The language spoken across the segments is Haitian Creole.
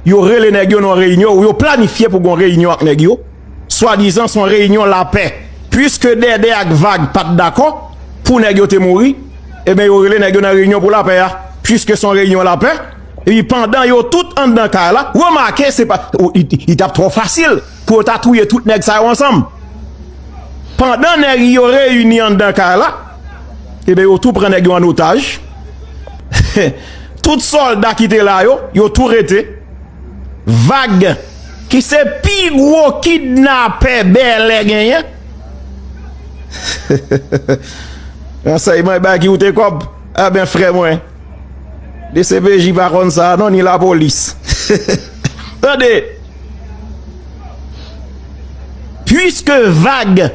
Yo rele nèg yo nan yon reyinyon ou yo planifye pou gen yon reyinyon ak nèg yo, swadizan se yon reyinyon lapè. Piske Dèdè ak Vag pa t dakò pou nèg yo te mouri, enben yo rele nèg yo nan reyinyon pou lapè a. Piske se yon reyinyon lapè, epi pandan yo tout anndan kay la, remake se pa, li t ap twò fasil pou yo ta touye tout nèg sa yo ansanm. Pandan nèg yo reyini anndan kay la, enben yo tou pran nèg yo ann otaj. Tout solda ki te la yo, yo tou rete. Vag ki se pi gwo kidnapè Bèlè genyen. Ransèyman e bay ki ou te kòb. A ben frè mwen. Dcpj pa konn sa non ni lapolis. Tande. Puiske vag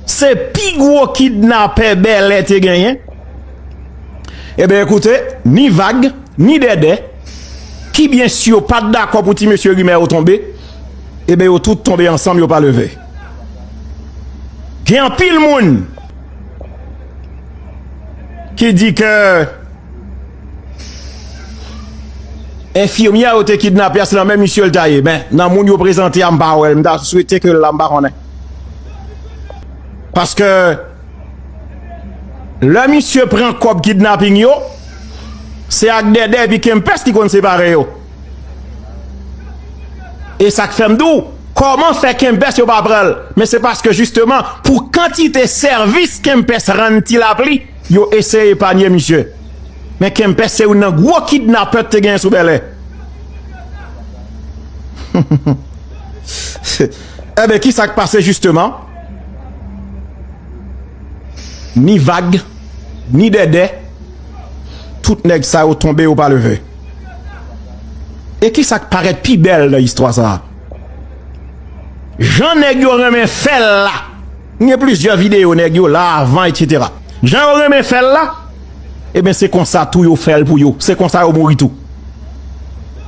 se pi gwo kidnapè Bèlè te genyen. Eben ekoute, ni vag, ni dèdè, ki byen si yo pat dakò pou ti mesye rimè yo tonbe, eben yo tout tonbe ansanm yo pa leve. Gen anpil moun ki di ke enfimyè yo te kidnape a se nan men misye l ta ye, men nan moun yo prezante a m pa wè l, m ta swete ke l la m pa konnen. Paske. Lè misye pran kòb kidnaping yo, se ak Dèdè epi Kempès li konn separe yo. E sa k fè m di w, kòman fè Kempès yo pa pran l? Men se paske jisteman pou kantite sèvis Kempès rann Ti Lapli, yo eseye epanye misye. Men Kempès se youn nan gwo kidnapè k te genyen sou Bèlè. Enben, ki sa k pase jisteman? Ni vag, ni dèdè, tout nèg sa yo tonbe yo pa leve. E kisa k parèt pi bèl nan istwa sa a? Jan nèg yo renmen fè l la, m gen plizyè videyo nèg yo la, avan etsetera, jan yo renmen fè l la, eben se konsa tou yo fè l pou yo, se konsa yo mouri tou.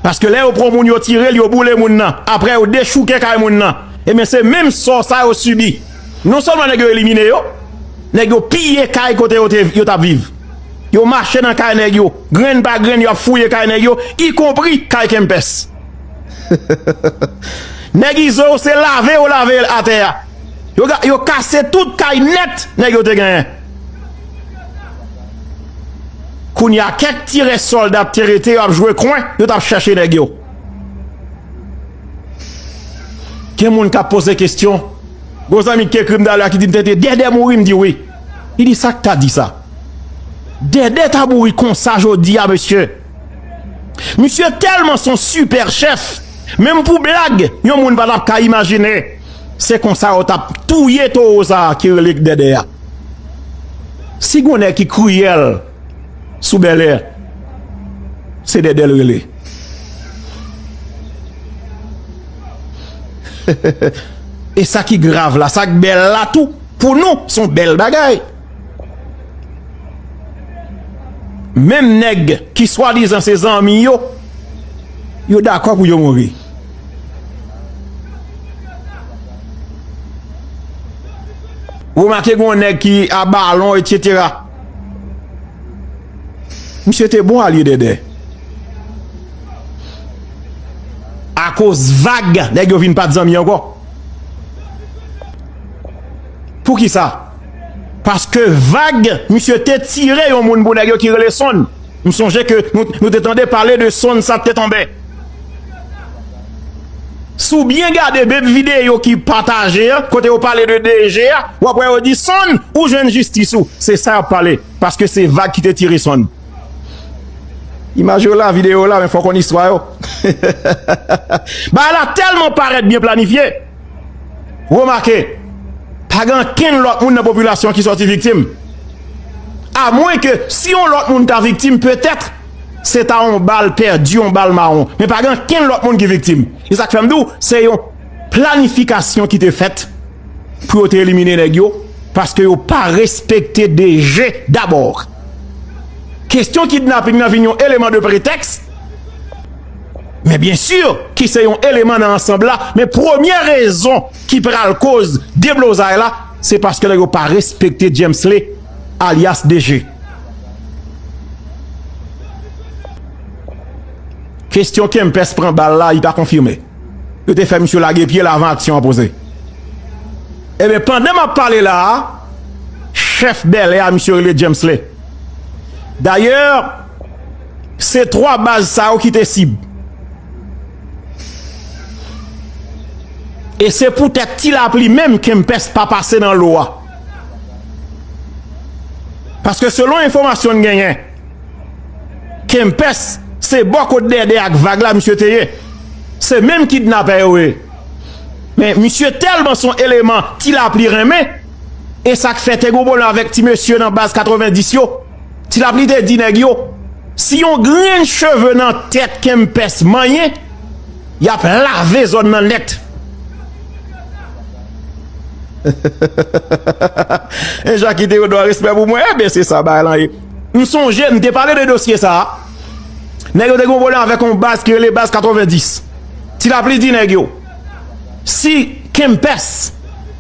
Paske lè yo pran moun yo tire l, yo boule moun nan, aprè yo dechouke kay moun nan. Ebyen se menm sò sa yo sibi. Non sèlman nèg yo elimine yo, nèg yo piye kay kote yo tap viv. Yo mache nan kay nèg yo, grenn pa grenn yo ap fouye kay nèg yo, ikonpri kay Kempès. Nèg Izo yo se lave yo lave atè a. Yo kase tout kay nèt nèg yo te genyen. Kounya kèk ti rès sòlda te rete yo ap jwe kwen, yo tap chèche nèg yo. Gen moun kap poze kestyon, gon zanmi ki te ekrim talè a ki dim tenten Dèdè mouri mdi wi, li di sak ta disa? Dèdè ta mouri konsa jodia mesye, misye tèlman son sipè chèf menm pou blag yon moun patap ka imajine se konsa yo tap touye towo sa ki rele Dèdè a, si gon nèg ki kriyèl. sou bèlè se dèdè l rele e sa ki grav la sa k bèl la tou pou nou son bèl bagay menm nèg ki swadizan se zanmi yo yo dakò pou yo mouri remake gen yon nèg ki a balon et cetera Misye te bon alye dèdè. Akoz vag nèg yo vin pat zanmi ankò. Poukisa? Paske vag misye te tire yon moun pou nèg yo ki rele Son. M sonje ke nou te tande pale de sonn sa te tonbe. Si w byen gade de videyo ki pataje an, kote yo pale de DG a, w ap wè yo di sonn ou jwenn jistis ou. Se sa y ap pale. Paske se vag ki te tire sonn. Imaj yo la, videyo yo la, men fò w konn istwa yo. Bagay la tèlman parèt byen planifye. Remake, pa gen ankenn lòt moun nan popilasyon an ki sòti viktim. A mwen ke si yon lòt moun ta viktim, petèt, se ta yon bal pèdi, yon bal mawon. Men pa gen ankenn lòt moun ki viktim. E sa k fè m di w, se yon planifikasyon ki te fèt pou yo te elimine nèg yo, paske yo pa respekte DG dabò. Kestyon kidnaping nan vin yon eleman de pretèks. Men byen sur ki se yon eleman nan ansanb la, men premye rezon ki pral koz deblozay la, se paske nèg yo pa respekte Djemsly alyas DG. Kestyon Kempès pran bal la, li pa konfime. Yo te fè misye lage pye l avan aksyon an poze. E ben pandan map pale la a, chèf Bèlè a misye rele Djemsly. Dayè. Se 3 baz sa yo ki te sib. E se pou tèt ti lapli menm kempès pa pase nan lo a. Paske selon enfomasyon n genyen, kempès se bò kot dèdè ak vag la misye te ye. Se menm kidnapè yo ye. Men misye tèlman son eleman ti lapli renmen, e sak fè te gen yon pwoblèm avèk ti mesye nan baz 90 yo. Ti lapli te di nèg yo, si yon grenn cheve nan tèt Kempès manyen, y ap lave zòn nan nèt. E Jackie Théodore respè pou mwen, enben se sa bagay lan ye. M sonje m te pale de dosye sa a, nèg yo te gen yon pwoblèm avèk yon baz ki rele baz 90. Ti lapli di nèg yo, si Kempès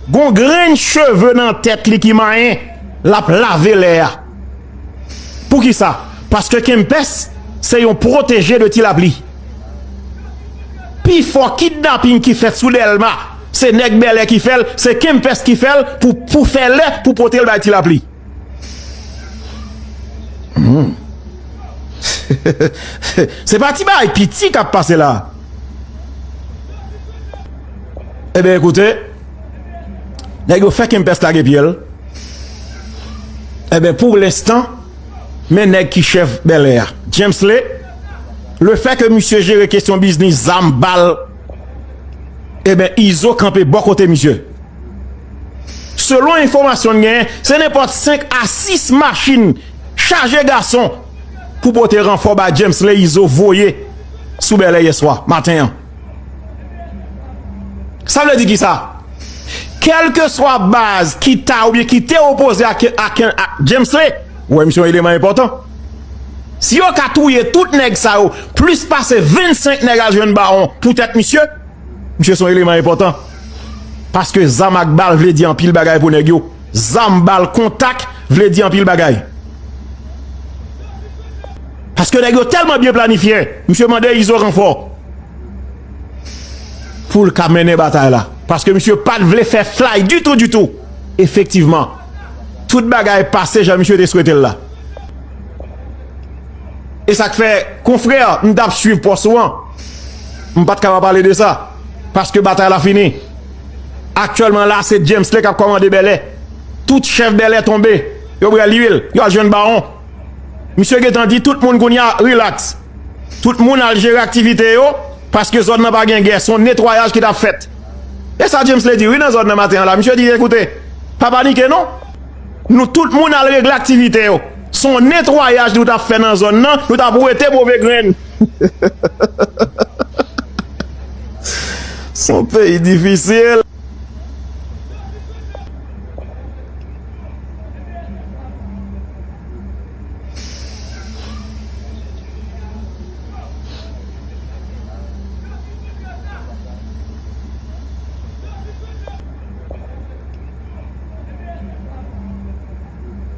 gen yon grenn cheve nan tèt li ki manyen, lap lave lè a poukisa paske kempès se yon proteje de ti lapli pifò kidnaping ki fèt sou dèlma se nèg bèlè ki fèl se kempès ki fèl pou fè lè pou potel bay ti lapli se pa ti bagay piti kap pase la e ben ekoute Nèg yo fè kempès lage pye l Enben pou lenstan men nèg ki chèf Bèlè a Djemsle Lefè ke misye jere kesyon biznis zam, bal Enben Izo kanpe bò kote misye Selon enfòmasyon n genyen se nenpòt 5 a 6 machin chaje gason pou pote ranfò ba Djemsle Izo voye sou Bèlè yèswa maten an. Sa vle di ki sa? Kelke swa baz ki ta ou byen ki te opoze a James le, ou wè misye yon eleman enpotan. Si yo ka touye tout neg sa yo, plis pase 25 neg al jwenn bawon pou tet misye, misye son eleman enpotan. Paske zam ak bal vle di anpil bagay pou neg yo. Zam, bal, kontak vle di anpil bagay. Paske nèg yo tèlman byen planifye, misye mande Izo ranfò pou l ka mennen batay la. Paske misye pa t vle fè flay ditou ditou. Efektivman, tout bagay pase jan misye te swete l la. E sa k fè, konfrè, m t ap swiv pòs ou an, m pa t ka pa pale de sa. Paske batay la fini. Aktyèlman la se Djemsly kap kòmande Bèlè. Tout chèf Bèlè tonbe. Yo pral li vil. Yo al jwenn Bawon. Misye gentan di tout moun kounye a relax. Tout moun al jere aktivite yo paske zòn nan pa gen gè. Son netwayaj ki tap fèt. E sa Djemsly di wi nan zòn nan maten an la. Misye di ekoute, pa panike non. Nou tout moun al regle aktivite yo. Son netwayaj nou tap fè nan zòn nan. Nou tap wete move grenn. Son peyi difisil.